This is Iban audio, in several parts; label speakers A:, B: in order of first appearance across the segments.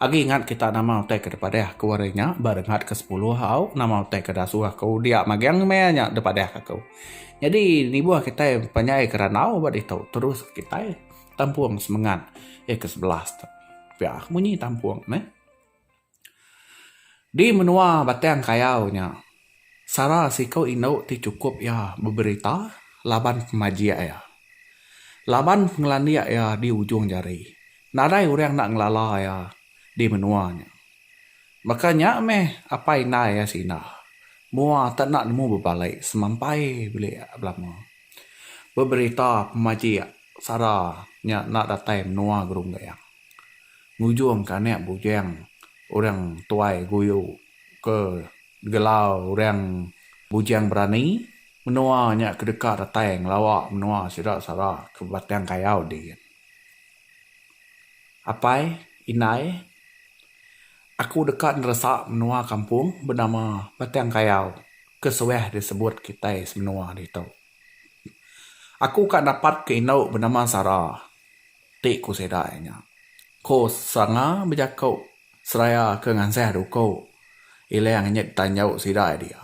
A: Agi ngat kita nama utai ke dipadah ku ari nya ba rengat ke sepuluh au nama utai ke dasuh aku dia magang maya nya dipadah aku. Nyadi nibuh kitai panjai ke randau ba ditu terus kitai tampung semengat ayat ke sebelas tu. Pia munyi tampung neh. Di menua batang kayau nya. Sara siku indu ti chukup iya beberita laban pemajik iya. Laban pengelandik iya di ujung jari, nadai orang enda ngelala iya di menua nya. Baka nya meh apai indai iya sinah mua tak enda nemu bebalik semampai bilik belama. Beberita pemajik sara nya enda datai menua Gerunggeng. Ngujungka anak bujang orang tuai guyu. ke digelar orang Bujang Berani menua nya ke deka datai ngelawa menua sida sara ke Batang Kayau din. Apai, indai, aku deka neresa menua kampung benama Batang Kayau ke suah disebut kitai semenua ditu. Aku ka dapat ke indu benama Sara. Ti ku sida iya nya. Ko Sanga bejaku seraya ke ngansah duku Ilang nyet ditanju sida iya dia.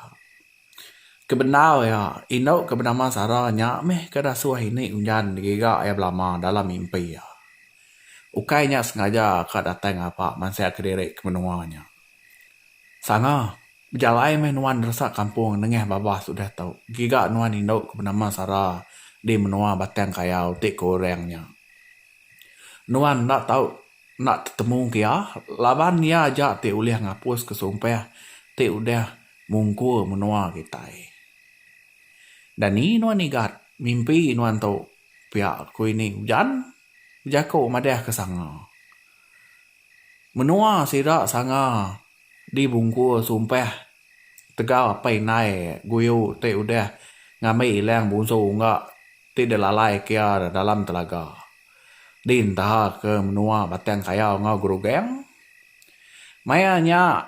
A: Kebendar iya, indu ke benama Sara nya meh ke dasuh ini Unjan digiga iya belama dalam mimpi iya. Ukai nya sengaja ka datai ngapa mansah kediri ke menua nya. Sanga. Bejalai meh nuan neresak kampung nengah babah sudah tu, giga nuan indu ke benama Sara di menoa Batang Kayau ti ke orang nya. Nuan enda tau enda tetemu ke iya laban iya aja ti ulih ngapus ke sumpah ti udah mungkur menoa kitai. Dani nuan igat mimpi nuan tu pia ku ini ujan bejaku madah ke sanga. Menoa sida sanga Di bungkur sumpah tegau apai indai guyu ti udah ngambi ilang bunsu ungga ti dilalai kia dalam telaga di entaha ke menua Batang Kayau enggau Gerugang. Maya nya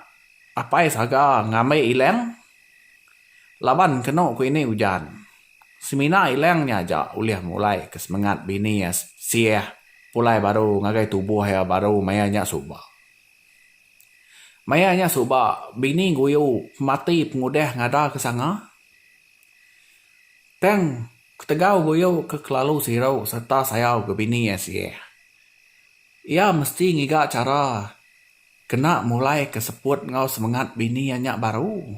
A: apai saga ngambi ilang laban kenu ku ini ujan. Semina ilang nya aja ulih mulai ke semengat bini iya siah pulai baru ngagai tubuh iya baru maya nya suba. Maya nya suba, bini Guyu mati pengudah ngada ke sanga. Tang, ketegal Guyu ke kelalu siru sereta sayau ke bini iya sirih, iya mesti ngiga chara kena mulaika seput enggau semengat bini iya nya baru,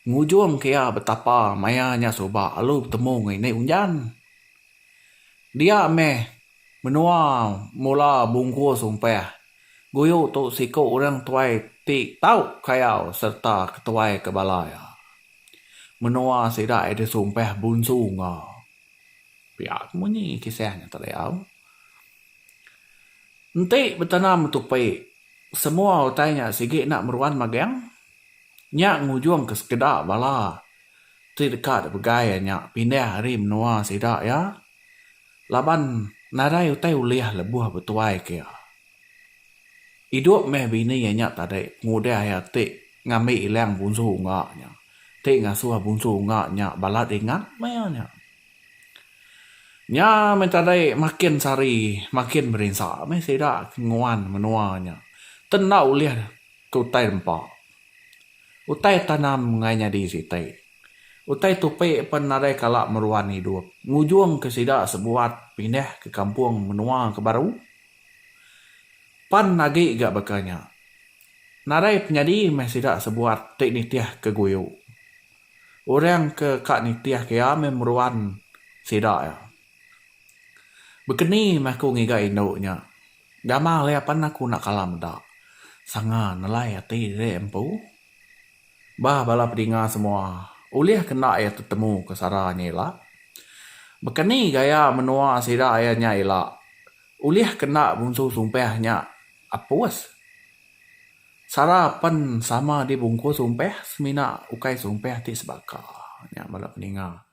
A: ngujungka iya betapa maya nya suba alu betemu ngini unjan. Dia meh Menua mula bungkus umpah guyu tu siku orang tuai ti tau kayau sereta ketuai ke bala iya. Menua sida iya disumpah Bunsu Nga. Pia ke munyi kisah nya tadi au. Enti betana metupi semua utai nya sigi enda meruan magang. Nya ngujungka sekeda bala ti deka dipegai nya pindah ari menua sida iya. Laban nadai utai ulih lebuh betuai ke iya. Idup meh bini iya nya tadi ngudai iya ti ngambi ilang bunsu unga nya, ti ngasuh bunsu unga nya balat ingat meh iya nya. Nya meh tadi makin sehari makin berinsa meh sida ke nguan menua nya ti enda ulih ke utai nempa. Utai tanam enggai nyadi siti Utai Tupi pen nadai kala meruan idup ngujung ke sida sebuat pindah ke kampung menua ke baru. Pan agi ga baka nya. Nadai penyadi meh sida sebuat ti nitih ke guyu. Orang ke ka nitih ke iya meh meruan sida iya. Bekeni meh aku ngiga indu nya. Gamal iya pan aku enda kala meda. Sanga nelai ati diri empu. Bah bala pedinga semua, ulih ke enda iya tetemu ke sara nya ila? Baka ni gaya menua sida iya nya ila? Ulih ke enda ngunsu sumpah nya apus? Sara pen sama dibungkus sumpah semina ukai sumpah ti sebaka, nya bala pedinga.